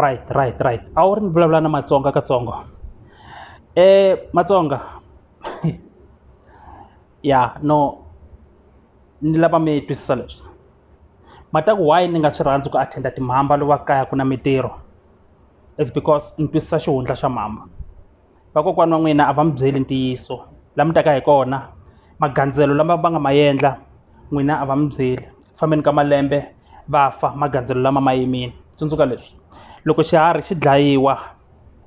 right right right a wu ri ni vulavula na matsonga katsongo um matsonga ya no ni lava mi twisisa leswi ma ta ku why ni nga swi rhandzi ku attend-a timhamba loko va kaya ku na mintirho is because ni twisisa xihundla xa mhamba. vakokwana wa n'wina a va mi byeli ntiyiso la mi taka hi kona magandzelo lama va nga ma endla n'wina a va mi byeli ku fambeni ka malembe va fa magandzelo lama ma yimile tsundzuka leswi loko xiharhi xi dlayiwa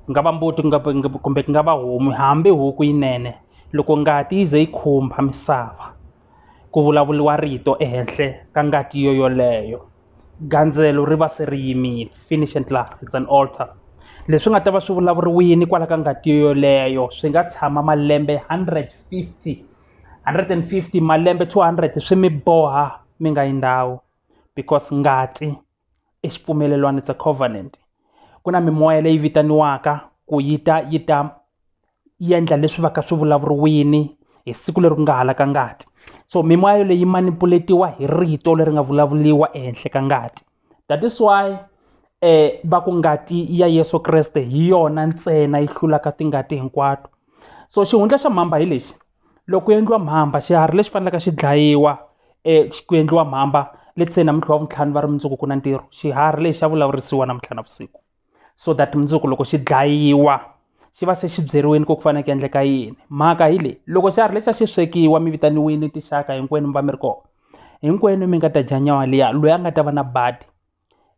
ku nga va mbuti ku nga kumbe ku nga va homu hambi huku yinene loko ngati yi ze yi khumbha misava ku vulavuriwa rito ehenhla ka ngati yo yoleyo. gandzelo ri va se ri yimile finish and klaar it's an alter leswi nga ta va swi vulavuriwini kwala ka ngati yoleyo swi nga tshama malembe hundred fifty hundred and fifty malembe two hundred swi mi boha mi nga yi ndhawu because ngati i xipfumelelwani it's a covenant ku na mimoya leyi vitaniwaka ku yi ta yi ta. yi endla leswi va ka swi vulavuriwini hi siku leri ku nga halaka ngati so mimoya leyi manipuletiwa hi rito leri nga vulavuriwa ehenhla ka ngati that is why va ku ngati ya Yeso Kreste hi yona ntsena yi hlulaka tingati hinkwato so xihundla xa mhamba hi lexi loko ku endliwa mhamba xiharhi lexi faneleke xi dlayiwa ku endliwa mhamba let's say namuntlha wavuntlhanu va ri mundzuku ku na ntirho xiharhi lexi xa vulavurisiwa namuntlha navusiku. so that mundzuku loko xi dlayiwa xi va se xi byeriwile ku ku fanele ku endleka yini mhaka hi leyi loko xa ha ri lexi a xi swekiwa mi vitaniwile tinxaka hinkwenu mi va mi ri kona hinkwenu mi nga ta dya nyawa liya loyi a nga ta va na badi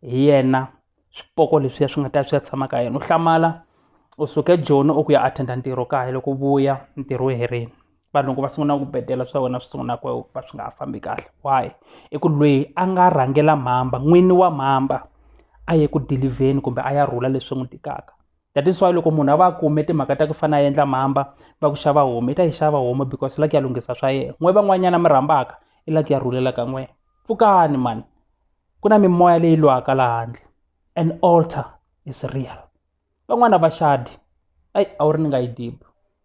hi yena swipoko leswiya swi nga ta swi ya tshama ka yena u hlamala u suke joni u ku ya attend-a ntirho kaya loko u vuya ntirho wu herile vanhu loko va sungula ku bedela swa wena swi sungula ku va swi nga ha fambi kahle why i ku lweyi a nga rhangela mhamba n'wini wa mhamba a ye ku dilivheni kumbe a ya rhula leswi n'wi tikaka that is why loko munhu a va a kume timhaka ta ku fana a endla mhamba va ku xava homu i ta yi xava homu because i la ku ya lunghisa swa yena n'we van'wanyana mi rhambaka i la ku ya rhulela ka n'wina pfukani mhani ku na mimoya leyi lwaka la handle and alter is real van'wana va xadi ayi a wu ri ni nga yi dibi.